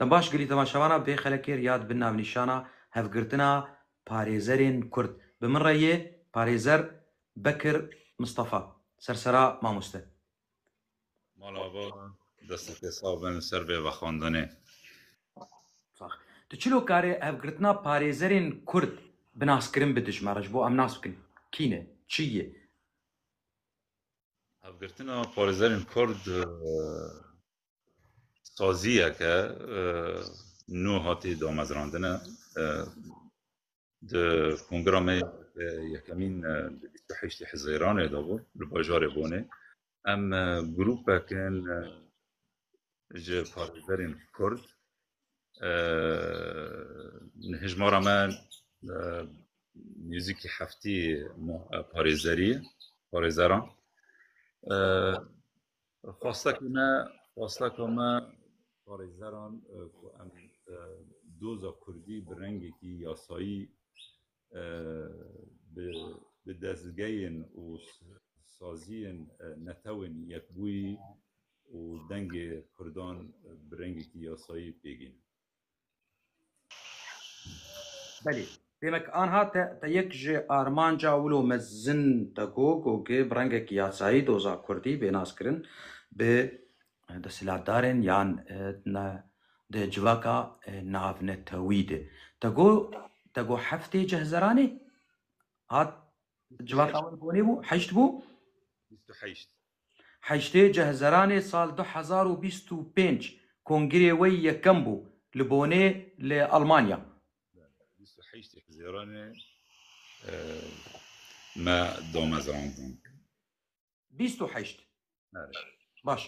Te baş girî dema şevana bê xelekêr ya dibin navnîşana hevgirtina parêzerên Kurd. Bi min re yê parêzer Bekir Mistefa, sersera mamoste. Mala va, destê te sax be li ser vê vexwendinê. Sax. Tu çilo karê hevgirtina parêzerên Kurd bi naskirin bi dijme re ji bo em nas bikin kî ne, çi ye? Hevgirtina parêzerên Kurd saziyeke nû hatê damezrandine di kongra me yekemîn di bîst û heştê Hezêranê de bû li bajarê Bonê em grûpekin ji parêzerên Kurd hijmara me nêzîkî heftê parêzerî parêzeran Xwestek û ne xwesteka me parêzeran ku em doza Kurdî bi rengekî yasayî bi dezgeyên û saziyên netewên yekbûyî û dengê Kurdan bi rengekî yasayî pêgînin. Belê. Demek anha te te yek ji armanca wilo mezin te got got ki bi rengekî yasayî doza Kurdî bê naskirin bi eh, desthilatdarên yan eh, ne di civaka eh, navnetewî de. Te got te got heftê cihzeranê hat civaka wê bonê bû, heşt bû. 28 Heştê Cehzeranê sal du hezar û bîst û pênc kongirê wê yekem bû li Bonê li Elmanya. Bîst û heştê Hizêranê me damezrandin. Bîst û heşt. Baş.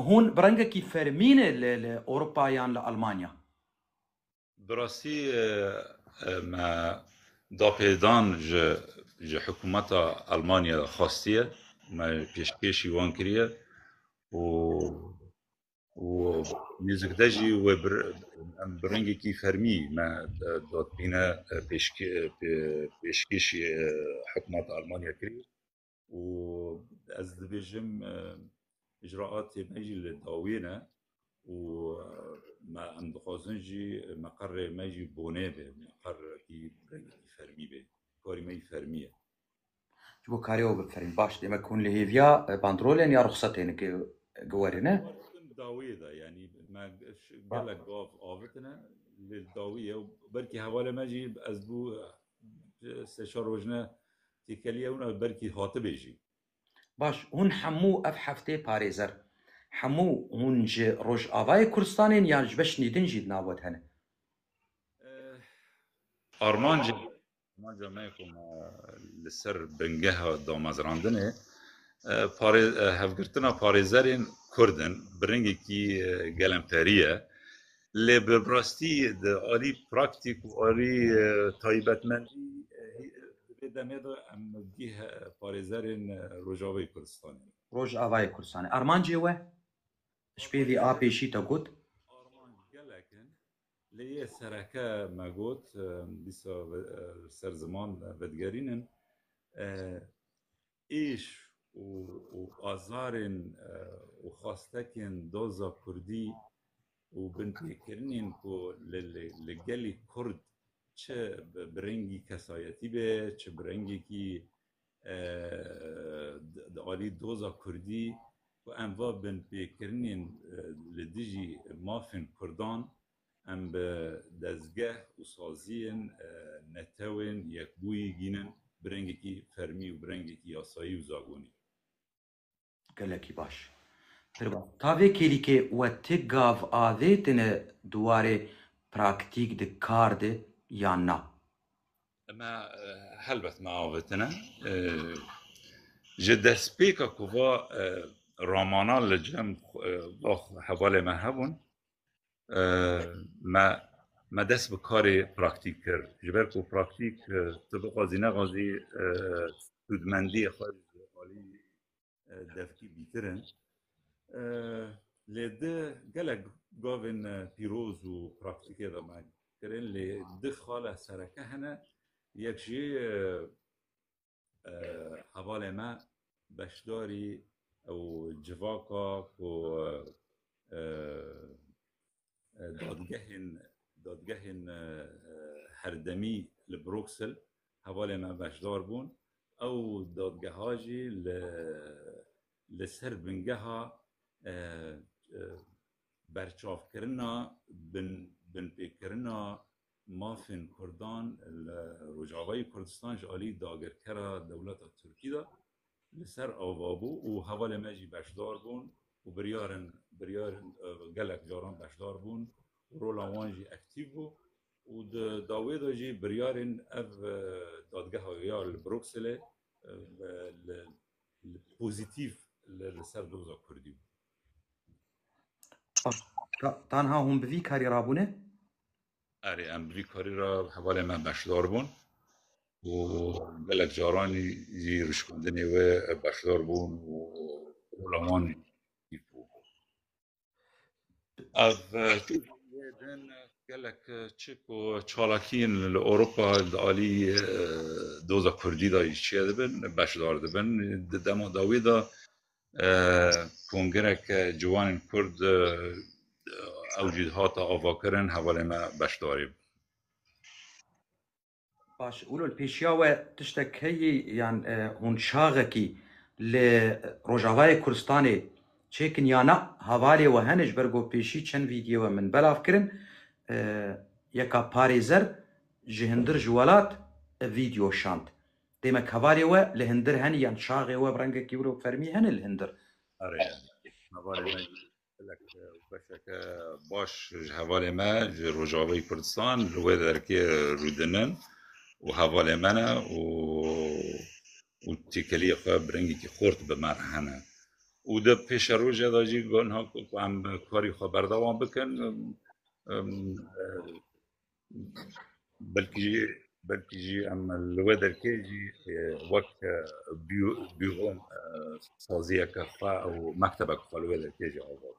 Hûn bi rengekî fermî ne li Ewropa yan li Elmanya? Bi rastî me dapêdan ji ji hikûmeta Elmanya de xwestiye û me pêşkêşî wan kiriye û û nêzik de jî wê bir em bi rengekî fermî me dadbîne pêşkê pê pêşkêşî hikûmeta Elmanya kirî. û ez dibêjim îcraatê me jî li dawî ne û me em dixwazin jî meqerê me jî bonê be meqerekî rengekî fermî be karî me jî fermî ye ji bo karê ew biferîn baş demek hûn li hêviya bandrolên ya rixsetên giwerê ne dawiyê de yanî me gelek gav avitine li dawiyê belkî hevalê me jî ez bû sê çar rojine Têkeliya wina bi belkî hatibê jî. Baş, hûn hemû ev heftê parêzer. Hemû hûn ji Rojavayê Kurdistanê in yan ji beşnî din jî di nav we de hene? Armanca armanca me ku me li ser bingeha damezrandinê parê hevgirtina parêzerên Kurd in bi rengekî gelemperî ye. Lê bi rastî di alî praktîk û alî taybetmendî divê demê de em nivgîh parêzerên Rojavayê Kurdistanê ne. Rojavayê Kurdistanê armancê we ji pêvî a pêşî te got. Armanc gelek in. Lê yê sereke me got dîsa li ser ziman vedigerînin. êş û û azarên û xwastekên doza Kurdî û binpêkirinên ku li li gelê Kurd çi bi rengî kesayetî be, çi bi rengekî di alî doza Kurdî ku em va binpêkirinên li dijî mafên Kurdan Em bi dezgeh û saziyên netewên yekbûyî gînin bi rengekî fermî û bi rengekî yasayî û zagonî. Gelekî baş. Pir baş. Ta vê kêlîkê we ti gav avêtine di warê praktîk di kar de yan na? Me helbet me avêtine. Ji destpêka ku va ramana li cem va hevalê me hebûn, me me dest bi karê praktîk kir ji ber ku praktîk tu bixwazî nexwazî hûdmendiyê xwe alî devkî bîtirin lê di gelek gavên pîroz û praktîkê de me kirin lê di xala sereke hene yek jî Hevalê me beşdarî û civaka ku dadgehên dadgehên herdemî li Bruksel hevalê me beşdar bûn. Ew dadgeha jî li li ser bingeha berçavkirina binpêkirina Mafên Kurdan li Rojavayê Kurdistan ji alî dagirkera dewleta Tirkî de li ser ava bû û hevalên me jî beşdar bûn û biryarên biryarên gelek caran beşdar bûn û rola wan jî ektîv bû û di dawê de jî biryarên ev dadgeha ya li Brukselê li li pozîtîf li ser doza Kurdî bû. Tanha hûn bi vî karî ra bûne? Erê em bi vî karî ra hevalên me beşdar bûn û gelek caran jî rişkundinê wê beşdar bûn û rola wan jî bû. Ev din gelek çi ku çalakiyên li Ewropa di alî doza Kurdî de jî çêdibin, beşdar dibin. Di dema dawî de Kongireke Ciwanên Kurd ew jî hata avakirin hevalên me beşdarî bûn. Baş Ulul pêşiya we tiştek heye yan hûn çaxekî li Rojavayê Kurdistanê çêkin ya na? Hevalê we hene ji ber ku pêşî çend vîdyoyê we min belav kirin yeka parêzer ji hindir ji welat ev vîdyo şand. Dême kavarê we li hindir henî yan çaxê we bi rengekî wilo fermî hene li hindir? Erê yani. Hevalê me gelek beşeke baş ji hevalê me ji Rojavayê Kurdistan li wê derkê rûdinin û hevalê me ne û û têkeliyê xwe bi rengekî xort bi me re hene. û di pêşe roje de jî got ku em karî xwe berdewam bikin belkî jî belkî jî em li we derkê jî e, wek e, bî- bîron e, saziyeke xwe û mektebek xwe li we derkê jî ava bû.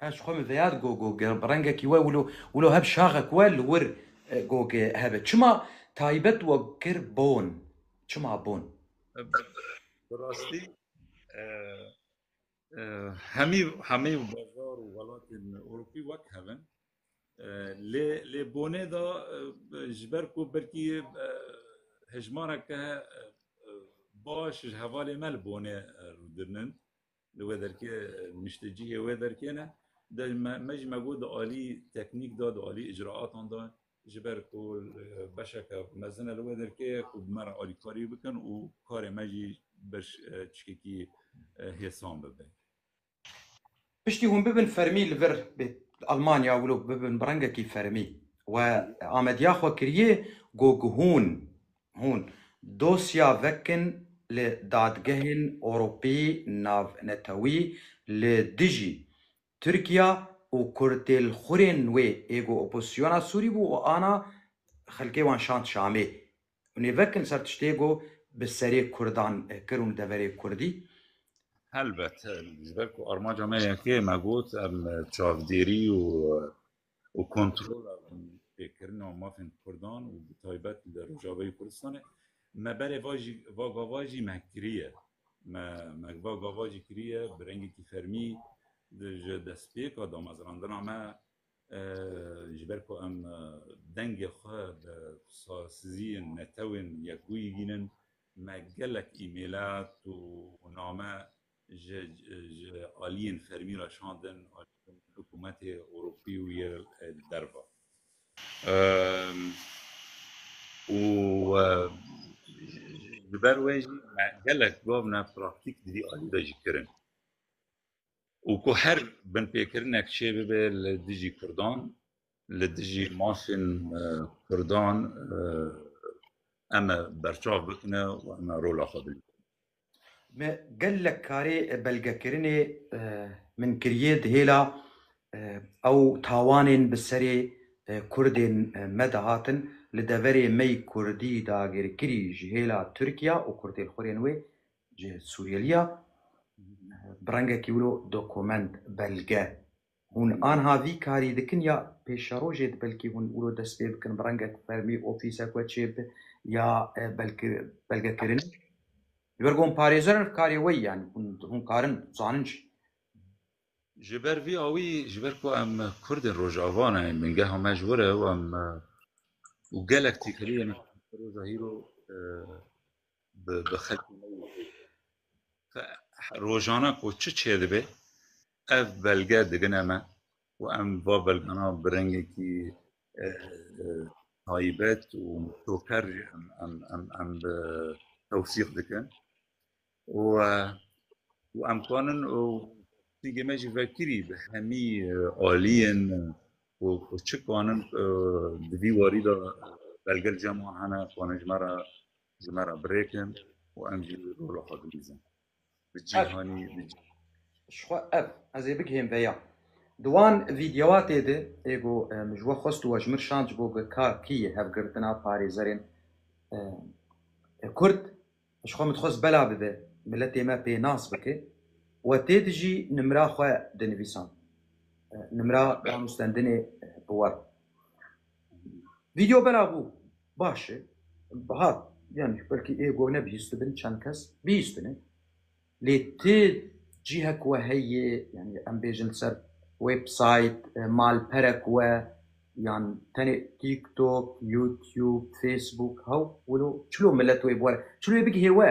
Ez xwe min veyar gogo ge- rengekî we wilo wilo heb şaxek we li wir e, gogê hebe. Çima taybet we kir bon? Çima bon? Bi rastî e, Hemî hemî bazar û welatên Ewropî wek hev in. Lê lê bonê da ji ber ku belkî hejmareke baş ji hevalê me li bonê rûdirnin li wê derkê niştecihê wê derkê ne. De me ji me got di alî teknîk da di alî icraatan da ji ber ku beşeke mezin e li wê derkê ye ku bi me re alîkarî bikin û karê me jî beş çikekî hêsan bibe. Piştî hûn bibin fermî li vir li Almanya û li bibin bi rengekî fermî we amediya xwe kiriye ku hûn hûn dosya vekin li dadgehên Ewropî navnetewî li dijî Tirkiya û kurtêlxurên wê ê ku opozîsyona Sûrî bû û ana xelkê wan şand Şamê û nêvekin ser tiştê ku bi serê kurdan kir û deverê kurdî. Helbet, ji ber ku armanca me yek e, me got em çavdêrî û û kontrola pêkirina mafên Kurdan û bi taybet li Rojava yê Kurdistanê me berê va jî va gava jî me kiriye. Me me va gava jî kiriye bi rengekî fermî ji destpêka damezrandina me ji ber ku em dengê xwe bi saziyên netewên yekbûyî bînin me gelek îmêlat û name ji ji aliyên fermî re şandin hikûmetê Ewropî û yê li derve. Û ji ber wê jî gelek gav ne praktîk di vî alî de jî kirin. Û ku her binpêkirinek çêbibe li dijî Kurdan, li dijî mafên Kurdan em e berçav bikine û em e rola xwe bigire. Me gelek karê belgekirinê min kiriye di hêla ew tawanên bi serê Kurdên me de hatin li deverê me yî Kurdî dagirkirî ji hêla Tirkiya û Kurdêlxwirên wê ji Sûriyeliya bi rengekî wilo dokument, belge, Hûn anha vî karî dikin ya pêşerojê di belkî hûn îro dest pê bikin bi rengek fermî ofîsek we çê bi ya belki belgekirinê. Ji ber ku hûn parêzer in karê we yanî hûn hûn karin zanin jî. Ji ber vî awî ji ber ku em kurd in rojava ne ên bingeha me ji wir e û em û gelek tîkiliyên roja hîro bi xelkê me yê hê ye. Xwe rojana ku çi çêdibe ev belge digine me û em va belgana bi rengekî taybet û toker jî em em em em bi tewsîq dikin û û em kanin û singê me jî vekirî bi hemî aliyên û û çi kanin di vî warî de belge li cem wan hene kanin ji me re Ji me re birêkin û em jî rola xwe dilîzin. Bi cîhanî bi cî- Ji xwe ev ez ê bigihêm veya. Di wan vîdewatê de ê got e, min ji we xwest û we ji min şand ji bo BKK'yê hevgirtina parêzerên e, Kurd ji xwe min dixwest bela bibe, miletê me pênas bike. We tê dijî nimra xwe dinivîsand. E, Nimra danûstendinê bi we. Video bela bû baş e. Hat yanî belkî ê goh nebihîstibin çend kes bihîstine. Lê ti cîhek we heye yanî em bêjin li ser websayt, malperek we yan tenê TikTok, YouTube, Facebook hew wilo çilo milet wê bi we re çilo wê bigihê we.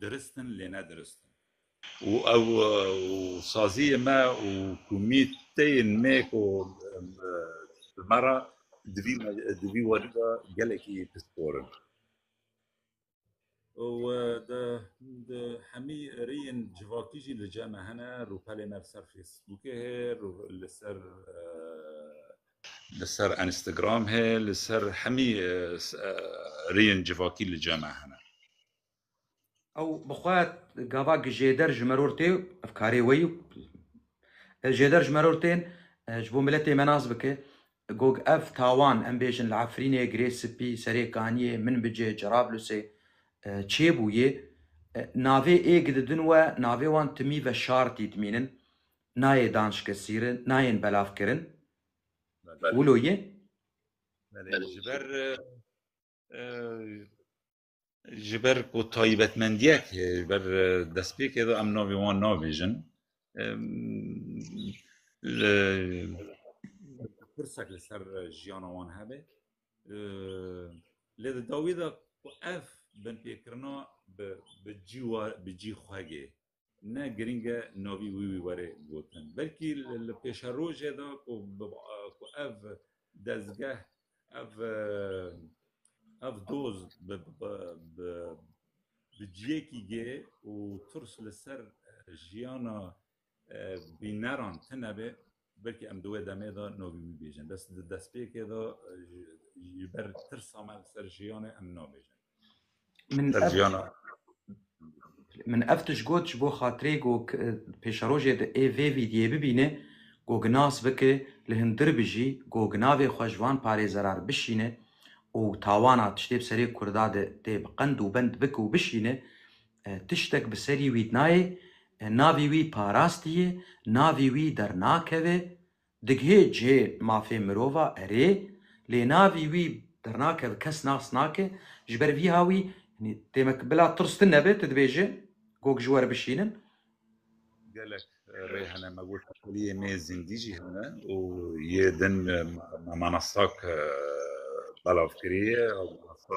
Dirist in lê ne dirist in. Û ew û saziyê me û ku mî tên mê ku bi me re di vî di vî werî de gelekî pispor in. Û di di hemî rêyên civakî jî li cem e hene, rûpelê me li ser Facebookê heye, li ser Li ser Instagram hê, li ser hemî rêyên civakî li cem e hene. Ew bi xwe gava ki jêder ji meror tê, ev karê wê yo. Jêder ji meror tên, ji bo miletê me nas bike. Gog ev tawan em bêjin li Efrînê, Girê Sipî, Serê Kaniyê, Minbicê, Cerablusê çêbûyê. Navê ê ki didin we, navê wan timî ve şartî dimînin. Nayê danşkesîrin, nayên belavkirin. Wilo yê? Belê, ji ber ji ber ku taybetmendiyek heye, ji ber destpêkê de em navê wan nabêjin. Li pirsek li ser jiyana wan hebe. Lê di dawî de ku ev binpêkirina bi cî wa bi cî xwegê Ne girîng e navî wî wî were gotin. Belkî li pêşerojê de ku ku ev dezgeh ev ev doz bi bi bi ciyekî gê û tirs li ser jiyana bîneran tune be Belkî em di wê demê de navî bibêjin. Bes di destpêkê de ji ber tirsa me li ser jiyanê em nabêjin. Min Ser ev jiyana min ev tişt got ji bo xatirê ku k- pêşerojê di ê vê vîdyê bibîne ku ginas bike li hundir bijî ku ginavê xwe ji van parêzerar bişîne û tawana tiştê bi serê Kurda de tê bi qend û bend bike û bişîne Tiştek bi serî wî nayê, navî wî parastî ye, navî wî dernakeve, digihê cihê mafê mirov a erê, lê navî wî dernakeve, kes nas nake, ji ber vî ha wî yanî demek bila tirs tune be, tu dibêje gog ji we re bişînim. Gelek rê hene, me got teqeliyê nê zindî jî hene û yê din me manastak belav kiriye, ew manasta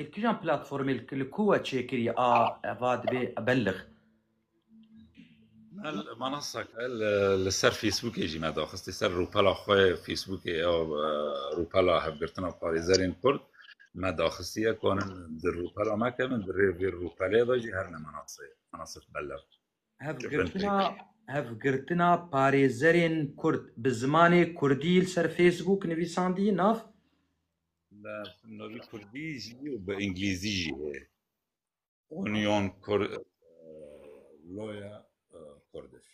Ê kîjan platformê li ku we çêkirî a va dibê belix. Mel manasa ke li ser Facebookê jî me daxistî ser rûpela xwe Facebookê ya rûpela hevgirtina parêzerên Kurd me daxistiye konin di rûpela me kevin di rê vê rûpelê de jî her ne manasê manasif belix. Hevgirtina hevgirtina parêzerên Kurd bi zimanê Kurdî li ser Facebook nivîsandî nav? Navî Kurdî jî û bi Îngilîzî jî heye. Union Kur Loya Kurdish.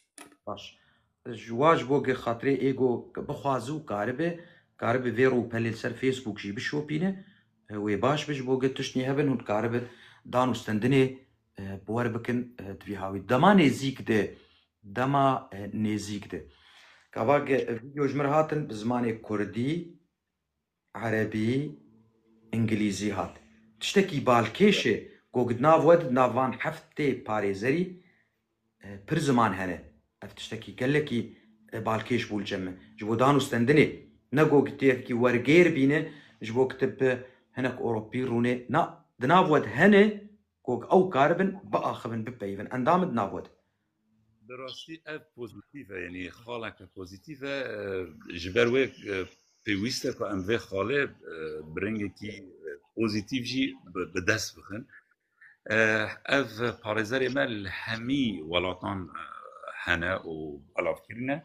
Baş. Ji wa ji bo gê xatirê êgo bixwazi û karibe karibe vê rûpelê li ser Facebook jî bişopîne wê baş bi ji bo gê tiştî hebin hûn dikaribin dan û stendinê Bi wer bikin divî hawî. Dema nêzîk de dema nêzîk de. Kavak video ji mir hatin bi zimanê kurdî, erebî, îngilîzî hat. Tiştekî balkêş e ku di nav we di nav van heftê parêzerî pir ziman hene. Ev tiştekî gelekî balkêş bû li cem me. Ji bo dan û stendinê ne ku tu yekî wergêr bîne ji bo kitib hinek oropî rûne na di nav we de hene. Ku ew karibin biaxivin, bipeyivin. Endamê di nav we de. Bi rastî ev pozîtîf e, yanî xaleke pozîtîf e. Ji ber wê pêwîst e ku em vê xalê bi rengekî pozîtîf jî bi dest bixin. Ev parêzerê me li hemî welatan hene û belavkirî ne.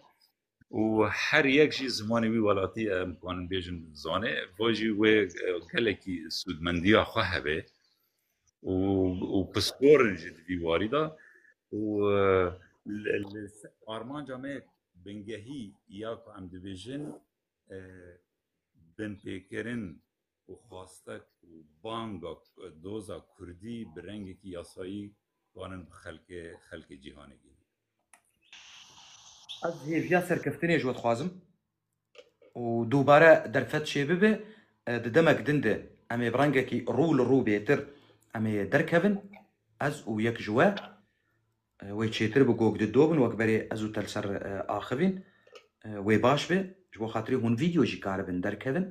û her yek jî zimanê wî welatî em kanin bêjin zanê bo jî wê gelekî sûdmendiya xwe hebe û û pisporin jî di vî warî da û armanca me bingehî ya ku em dibêjin binpêkirin û xwaste ku banga doza kurdî bi rengekî yasayî twanin bi xelkê xelkê cîhanê gihînin. Ez hêviya serkeftinê ji we dixwazim û dubare derfet çêbibe di demek din de em ê bi rengekî rû li rû bêtir em ê derkevin ez û yek ji we Wê çêtir bi gog di dobin wek berê ez û tel ser axivîn wê baş be ji bo xatirê hûn vîdeo jî karibin derkevin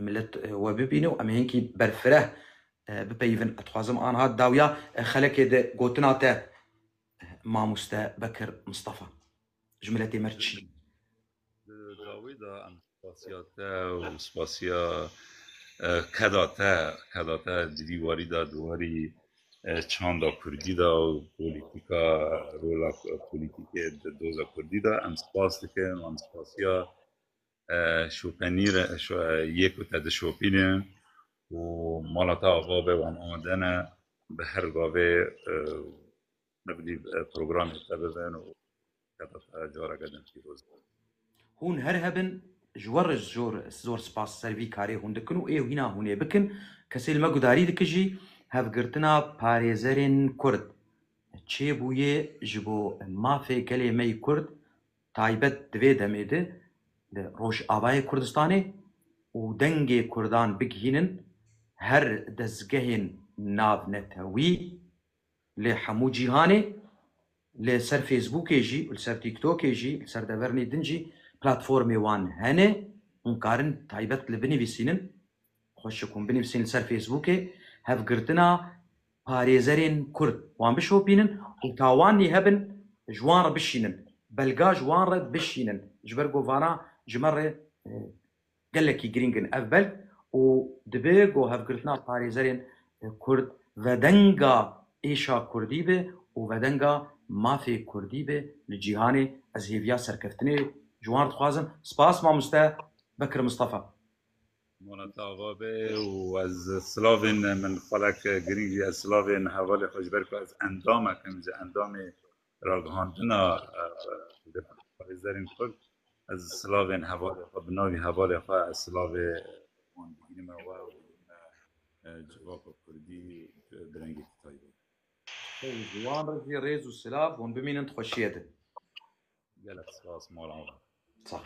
milet we bibîne û em hênkî berfireh bipeyivin ez dixwazim anha dawya xelekê di gotina te mamoste Bekir Mistafa. Ji miletê me çi ye? Di dawî de em spasiya te û spasiya keda te keda te di vî warî de di warî çanda kurdî de û polîtîka rola polîtîkê di doza kurdî de em spas dikin û em spasiya şopenî re yê ku te dişopîne û mala te ava be wan amadene bi her gavê Nebdî programê te bibin û tebeqe careke din pîroz be. Hûn her hebin ji we re zor zor spas ser vî karê hûn dikin û ê hîna hûnê bikin. Kesê li me gudarî dikijî hevgirtina parêzerên Kurd çê bûyê ji bo mafê gelê me yî Kurd taybet di vê demê de li Rojavayê Kurdistanê û dengê Kurdan bigihînin her dezgehên navnetewî. Li hemû cîhanê li ser Fêsbûkê jî û li ser Tîktokê jî li ser devernî din jî platformê wan hene. Hûn karin taybet li binivîsînin. Xweşik hûn binivîsîn li ser Fêsbûkê hevgirtina parêzerên Kurd wan bişopînin û ta wan nî hebin ji wan re bişînin, belga ji wan re bişînin. Ji ber ku vana ji me re Gelekî girîng in ev belg û dibe ku hevgirtina parêzerên Kurd vedenga êşa Kurdî be û vedenga mafê Kurdî be li cîhanê. Ez hêviya serkeftinê ji wan re dixwazim. Spas Mamoste Bekir Mistefa. Monate ava be û ez silavên min xwelek girîng jî ez silavên hevalê xwe ji ber ku ez endamek im ji endamê ragihandina parêzerên Kurd ez silavên hevalê xwe bi navî hevalê xwe ez silavê wan digirîme we û digirîme civaka Kurdî bi rengekî taybet. Ji wan re jî rêz û silav hûn bimînin di xweşiyê de. Gelek spas mala wan.